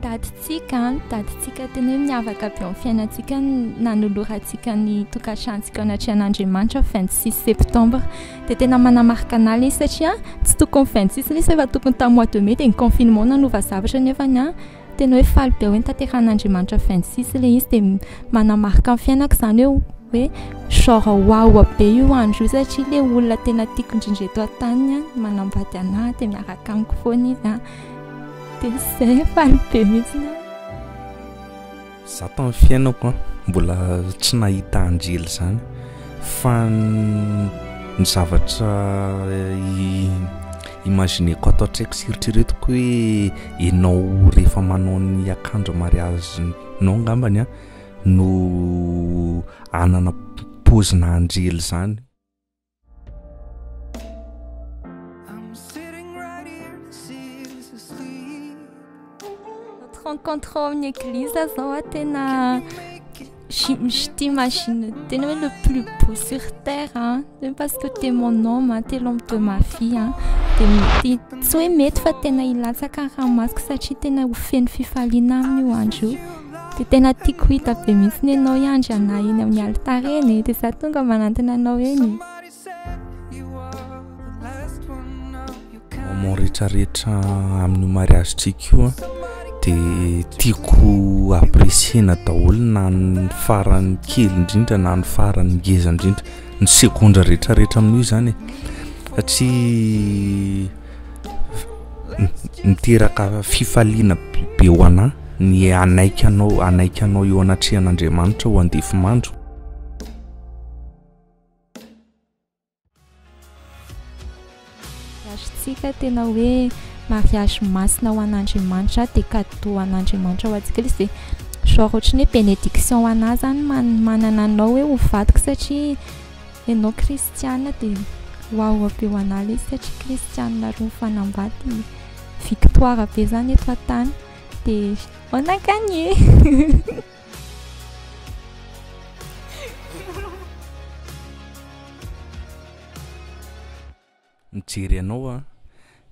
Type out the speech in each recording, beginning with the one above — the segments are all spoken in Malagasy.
Datintsika an, datintsika tena hoe miavaka be amin'ny fiainantsika ny nanolorantsika ny tokantranontsika ao anatrehan'Andriamanitra vingt six septembre. Dia tena manamarika anà ilay izy satria tsy tokony vingt six ilay izy fa efa tokony tamin'ny mois de mai dia ny confinement no nanova zavatra nefany an. Tena hoe faly be hoe nitanterahan'Andriamanitra fin de six ilay izy dia manamarika ny fiainako izany hoe hoe genre wawa be io andro io satria ilay olona tena tiako indrindra eto an-tany manambady anà dia miaraka amiko foana izy an dia izay faly be mihitsy aho Za tamin'ny fiainako an, mbola tsy nahita anjely zany fa ny zavatra imagineko ato an-tsaiko sy eritreretiko hoe ianao rehefa manao ny akanjo mariazinao ngambany an no hanana paozina anjely zany. rencontre ao amin'ny église zao a tena j'imagine tena hoe le plus beau sur terre a tena parce que t'es mon homme a t'es l'homme de ma vie a de mety tsy hoe mety fa tena hilatsaka ny ranomasoko satria tena ho feno fifaliana aminy io andro io Dia tena tiako hita be mihitsy ny ianao hiandry anay eny amin'ny alitara eny e. Dia za tonga manantona anao eny. Moment retraretra amin'ny mariage triko dia tiako apprécier-na daholo na ny farany kely indrindra na ny farany ngeza indrindra ny segondra retraretra amin'io izany e. Satria miteraka fifaliana be ho anà ny hanaiky anao hanaiky anao eo anatrehan'Andriamanitra ho andefimandro mariazintsika tena hoe mariazy masina ho an'Andriamanitra dia kado ho an'Andriamanitra ho antsika izy dia genre ohatry ny hoe bénédiction ho anà zany manana anao hoe ho vadiko satria Enao kristiana dia waouh avy eo anah lesy satria kristiana roa mifanambady i victoire be zany eto an-tany dia on a gagné Mijery anao aho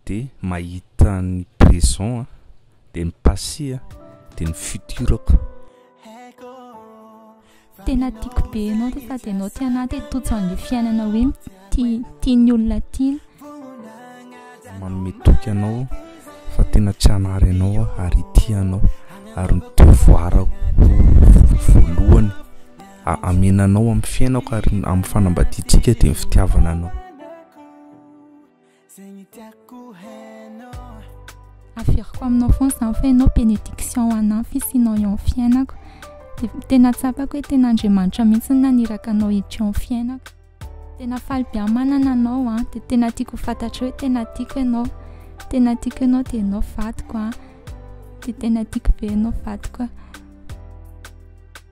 de mahita ny présent a de ny passé a de ny futur-ko. Tena tiako be ianao ty sady ianao tia anah te totso anle fiainana hoe tia tia ny olona tiana. Manome toky anao fa tena tsy hanary anao aho ary hitia anao ary ny devoir-ko voalohany. Amena anao amin'ny fiainako ary amin'ny fanambadiantsika dia ny fitiavana anao. Averiko aminao foana izany fa ianao bénédiction anah fisianao eo amin'ny fiainako. Dia tena tsapako hoe tena Andriamanitra mihitsy no naniraka anao hiditra eo amin'ny fiainako. Tena faly be aho manana anao an. Dia tena tiako fantatro hoe tena tiako ianao. Tena tiako ianao dia ianao vadiko an. Dia tena tiako be ianao vadiko an.